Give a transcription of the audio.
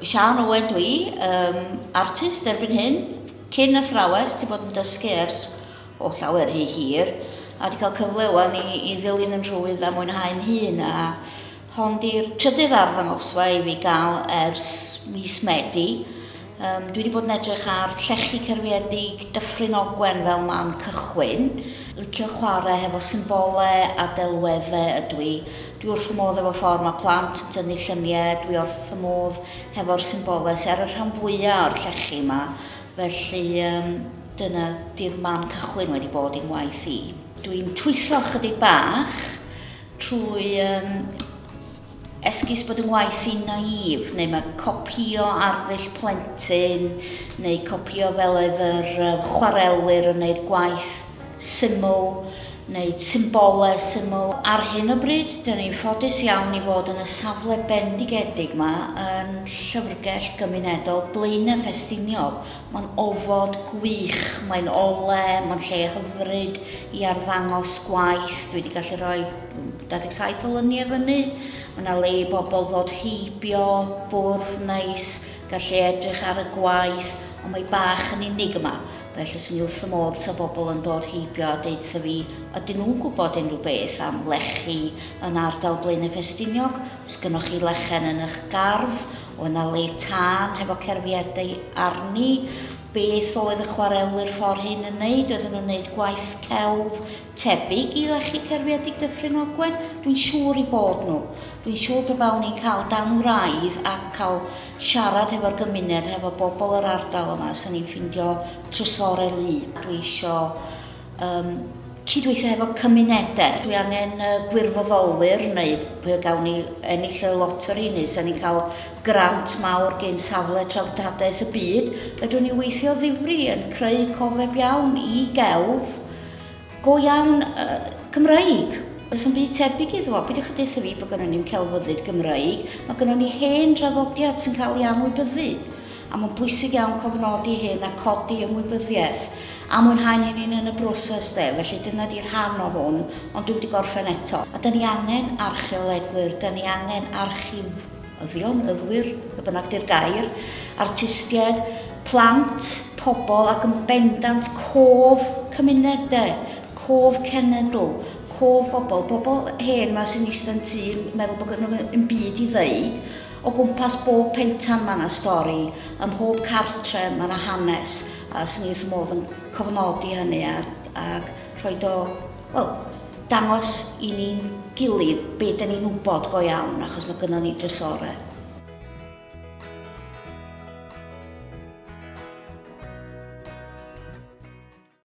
Siân Owen dwi, um, artist erbyn hyn, cyn athrawes, ti bod yn dysgu ers o llawer rhy hir, a di cael cyfle wan i, i ddilyn yn rhwydd a mwynhau'n hun, a hon di'r trydydd arddangosfa i fi gael ers mis Medi, Yym, dwi wedi bod yn edrych ar llechi cerfiedig Dyffryn Ogwen fel man cychwyn. Licio chwarae hefo symbole a delwedde ydw i. Dwi wrth fy modd efo ffordd mae plant yn tynnu llynie, dwi orth fy modd hefo'r symbole sy ar y rhan fwya o'r llechi yma, felly yym dyna di'r man cychwyn wedi bod i'n waith i. Dwi'n twyllo chydig bach trwy yym Esgus bod 'y ngwaith i'n naïve, neu mae copïo arddull plentyn, neu copïo fel oedd yr chwarelwyr yn wneud gwaith syml, neu symbolau syml. Ar hyn o bryd, dyn ni'n ffodus iawn i fod yn y safle bendigedig 'ma yn Llyfrgell Gymunedol Blaenau Ffestiniog. Mae'n ofod gwych, mae'n ole, mae'n lle hyfryd i arddangos gwaith, dwi wedi gallu rhoi 27 o lyniau fyny, mae yna le i bobl ddod heibio, bwrdd neis, gallu edrych ar y gwaith, ond mae bach yn unig yma, felly swn i wrth fy modd ta bobl yn dod heibio a deutha fi ydyn nhw'n gwybod unrhyw beth am lechi yn ardal Blaenau Ffestiniog, os gynnoch chi lechen yn ych gardd, oedd yna le tân hefo cerfiadau arni, beth oedd y chwarelwyr ffordd hyn yn neud, oedden nhw'n neud gwaith celf, Tebyg i lechi cerfiedig Dyffryn Ogwen? Dwi'n siŵr i bod nhw. Dwi'n siŵr pe bawn i'n cael dan wraidd ac cael siarad hefo'r gymuned, hefo bobl yr ardal yma, 'sen ni'n ffindio trysore lu. Dwi isio um, cydweithio hefo cymunedau. Dwi angen uh, gwirfoddolwyr neu pe gawn ni ennill y loteri neu 'sen ni'n cael grant mawr gen safle traftadaeth y byd, fedrwn ni weithio ddifri yn creu cofeb iawn i gelf Go iawn, uh, Gymraeg. Oes yn byd tebyg iddo? Peidiwch chi deutha fi bod gynnon ni'n celfyddyd Gymraeg. Mae gynnon ni hen draddodiad sy'n cael ei anwybyddu. A mae'n bwysig iawn cofnodi hyn a codi ymwybyddiaeth a mwynhau ni'n un yn y broses de. Felly dyna di rhan o hwn, ond dwi wedi gorffen eto. A da ni angen archeolegwyr, da ni angen archif Rhoddion, myfyrwyr, be bynnag di'r gair, artistiaid, plant, pobl ac yn bendant cof cymunedau, cof cenedl, cof bobl, bobl hen ma sy'n eistedd tu yn meddwl bod gen nhw yn byd i ddeud, o gwmpas bob pentan mae yna stori, ym mhob cartre mae yna hanes, a swn i wrth fy modd yn cofnodi hynny a, a rhoi do Wel, dangos i ni'n gilydd be da ni'n wybod go iawn, achos mae gynnon ni drysore.